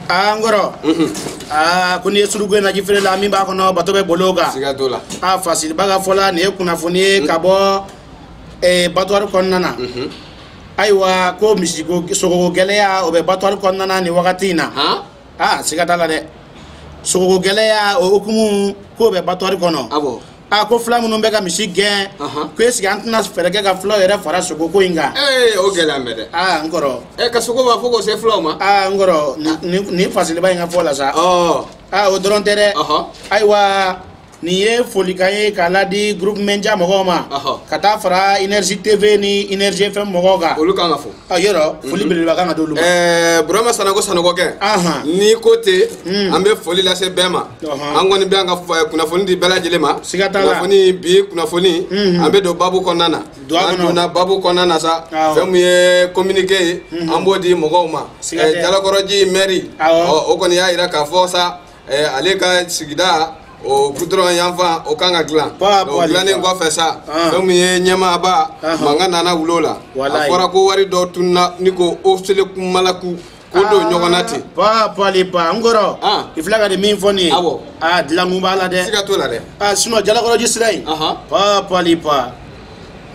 aa n kɔrɔ aa ko n'i ye surugu ye naji feere la min b'a kɔnɔ bato bɛ bolo kan siga t'o la a fasilibaa ka fɔ la nin ye kunnafoni ye ka bɔ eh, batuwari kɔnɔna na ayiwa ko misiko sogoko gɛlɛya o bɛ batuwari kɔnɔna na nin wagati in na han aa siga t'a la dɛ sogoko gɛlɛya o hukumu k'o bɛ batuwari kɔnɔ awɔ a ko fula minnu bɛ ka misi gɛn ko est-ce que an tɛna fɛɛrɛ kɛ ka fulaw yɛrɛ fara sogo ko in kan ee o gɛlɛya mɛ dɛ aa n kɔrɔ ɛ ka sogo b'a fɔ k'o se fulaw ma aa n kɔrɔ nin fasilibaa in ka fɔ la sa aa o dɔrɔn tɛ dɛ ayiwa nin ye folikan ye k'a ladi groupe média mɔgɔw ma ka taa fara énergie tv ni énergie fm mɔgɔw kan olu kan ka fo a yɔrɔ foli belebeleba kan ka d'olu ma ɛɛ burama sanɔgɔ sanɔgɔkɛ Ahan. n'i ko ten an bɛ foli lase bɛɛ ma Ɔhɔn. an kɔni bɛ an ka f- eh, kunnafoni di bɛɛ lajɛlen ma Siga t'a la. kunnafoni bi kunnafoni an bɛ don babu kɔnɔna na Don a kɔnɔ. an donna babu kɔnɔna na sa Awɔ. fɛn min ye communiqué ye an b'o di mɔgɔw ma Siga tɛ. Eh, jalakɔrɔji mɛri Awɔ. ɔ, o kɔni y'a jira k'a fɔ sa Eh, ale ka sigida o gudɔrɔn yanfan o kan ka dilan o dilannen kɔfɛ sa ah. fɛn min ye ɲɛmaaba ah. mankan nana wuli o la a fɔra ko wari dɔ tununna ni ko o sele kumalaku ko don ah. ɲɔgɔn na ten ba pali ba n kɔrɔ i filɛ ka nin min fɔ nin ye awɔ a dilankun b'a la dɛ siga t'o la dɛ a sinɔn jalakɔrɔji sira in ba pali pa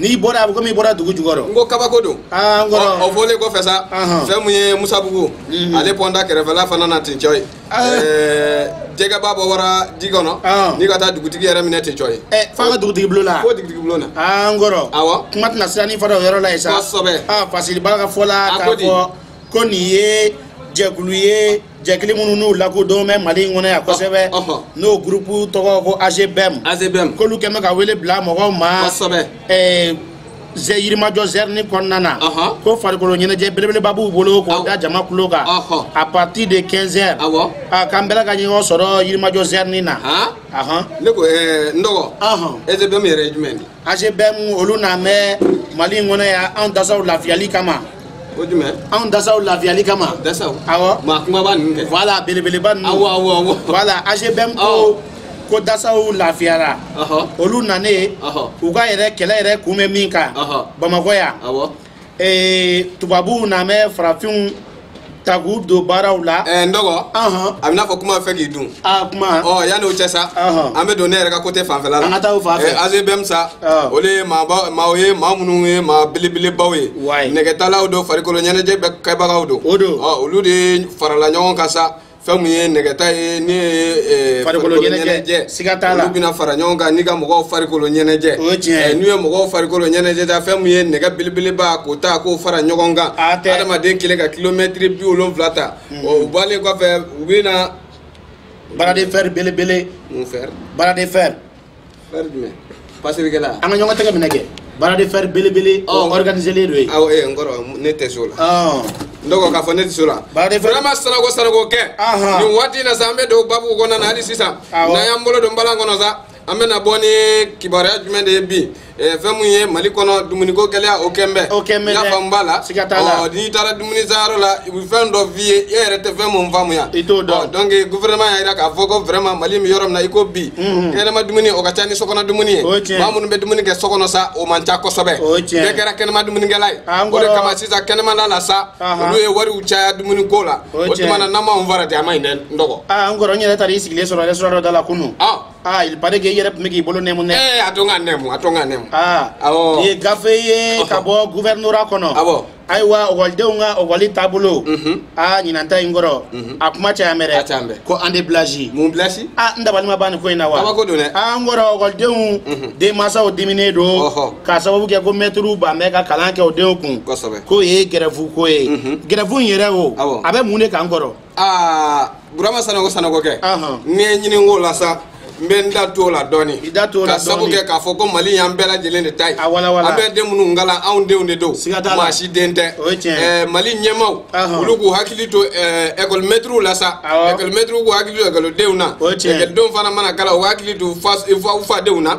n'i bɔra a bɛ komi i bɔra dugu jukɔrɔ n ko kabako don n kɔrɔ o fɔlen kɔfɛ sa fɛn min ye misabugu ale pɔnda kɛrɛfɛla fana na ten cɔ ye jɛgɛba bɔ wara ji kɔnɔ n'i ka taa dugutigi yɛrɛ minɛ tɛ jɔ ye fo ka dugutigi bulon na fo dugutigi bulon na an kɔrɔ awɔ kuma tɛna siran ni fara o yɔrɔ la yen sa kosɛbɛ fasiribaa ka fɔ la k'a fɔ ko nin ye jɛkulu ye jɛkulu minnu n'u lakodɔn bɛ mali in kɔnɔ yan kosɛbɛ n'o gurupu tɔgɔ ko AGBM AGBM k'olu kɛ bɛ ka wele bila mɔgɔw ma kosɛbɛ zɛ yirimajɔ zɛrini kɔnɔna na Ɔhɔn. ko farikolo ɲɛnajɛ belebeleba b'u bolo k'o Awɔ. da jama kulo kan Ɔhɔn. à partir de 15 heures Awɔ. a k'an bɛɛ la ka ɲɔgɔn sɔrɔ yirimajɔ zɛrini na han Ahɔn. ne ko ɛɛ n dɔgɔ Ɔhɔn. AGBM yɛrɛ ye jumɛn de ye AGBM olu nanen bɛ mali in kɔnɔ yan anw dasaw lafiyali kama o jumɛn anw dasaw lafiyali kama dasaw awɔ maa kunbaba ninnu kɛ voilà belebeleba ninnu awɔ awɔ awɔ voilà AGBM ko Awɔ. ko dasaw lafiyara olu nanen u ka yɛrɛ kɛlɛ yɛrɛ kun bɛ min kan bamakɔ yan tubabuw nanen bɛ farafinw ta k'u don baaraw la. ɛɛ n dɔgɔ. a bɛ n'a fɔ kuma fɛ k'i dun. a kuma. ɔ yanni o cɛ sa. an bɛ don ne yɛrɛ ka kote fanfɛla la. an ka taa o fan fɛ. AGBM sa. o de ye maaba maaw ye maa minnu ye maa belebelebaw ye. wayi nɛgɛtalaw don farikolo ɲɛnajɛ kɛbagaw don. o don. ɔ olu de farala ɲɔgɔn kan sa. fɛn min ye nɛgɛta ye ne ye farikolo ɲɛnajɛ siga t'a la olu bɛna fara ɲɔgɔn kan ni ka mɔgɔw farikolo ɲɛnajɛ o ye tiɲɛ ye n'u ye mɔgɔw farikolo ɲɛnajɛ ta fɛn min ye nɛgɛ belebeleba k'o ta k'o fara ɲɔgɔn kan adamaden kelen ka kilomɛtiri bi wolonwula ta hmm. o bɔlen kɔfɛ u bɛna bras de fer belebele mun fer bras de fer fer jumɛn pasilikɛla an ka ɲɔgɔn tɛgɛ minɛ kɛ bras de fer belebele o Ɔ. organiselen don ye aw ee n kɔrɔ ne tɛ s'o la Ɔn. n dɔgɔ k'a fɔ ne tɛ s'o la bras de fer vraiment sanɔgɔ sanɔgɔ kɛ Ahan. nin waati in na sa an bɛ don babu kɔnɔna na hali sisan Awɔ. n'an y'an bolo don balan kɔnɔ sa an bɛna bɔ ni kibaruya jumɛn de ye bi Eh, fɛn mun ye mali kɔnɔ dumuniko gɛlɛya o kɛn bɛ o kɛn bɛ yafa b'a la siga t'a la n'i taara dumuni sanyɔrɔ la u bɛ fɛn dɔ f'i ye e yɛrɛ tɛ fɛn mun faamuya i t'o dɔn donc gouvernement y'a jira k'a fɔ ko vraiment mali bɛ yɔrɔ min na i ko bi mhm. kɛnɛma dumuni o ka ca ni sokɔnɔ dumuni ye maa minnu bɛ dumuni kɛ sokɔnɔ sa o man ca kosɛbɛ bɛɛ kɛra kɛnɛma dumunikɛla ye ah, o de kama sisan kɛnɛmala la sa olu ye wariw caya dumuni ko la o tuma na n'an m'anw fara ten a man ɲi dɛ n dɔgɔ ah, n kɔrɔ n yɛrɛ taara i sigilen sɔrɔ restaurant dɔ da la kunun ah. aa il paraît que i yɛrɛ tun bɛ k'i bolo nɛmu dɛ ee a to n ka nɛmu a to n ka nɛmu aa Awɔ. nin ye gafe ye ka bɔ guvɛrinora kɔnɔ Awɔ. ayiwa ɔkɔlidenw ka ɔkɔli taabolo Mhm. aa ɲinan ta in kɔrɔ Mhm. a kuma cayalen bɛ dɛ A cayalen bɛ. ko année blanche mun blanche aa n dabali ma ban nin ko in na wa Kabako don dɛ. aa n kɔrɔ ɔkɔlidenw Mhm. denmansaw diminen don Ɔhɔ. k'a sababu kɛ ko mɛtiriw ban bɛ ka kalan kɛ u denw kun kosɛbɛ k'o ye gɛrɛfu ko ye Mhm. gɛrɛfu in yɛrɛ o Awɔ. a bɛ mun de kan n kɔrɔ aa burama sanɔgɔ sanɔgɔ kɛ n'i ye n ɲinink'o la sa n bɛ n da don o la dɔɔni ka sabu kɛ k'a fɔ ko mali y'an bɛɛ lajɛlen de ta ye an bɛ den minnu kalan anw denw de don maa si den tɛ eh, mali ɲɛmaw olu k'u hakili to ɛkɔlimɛtiriw eh, la sa ɛkɔlimɛtiriw k'u hakili to ɛkɔlidenw na ɛkɔlidenw fana mana kalan u hakili to u fadenw na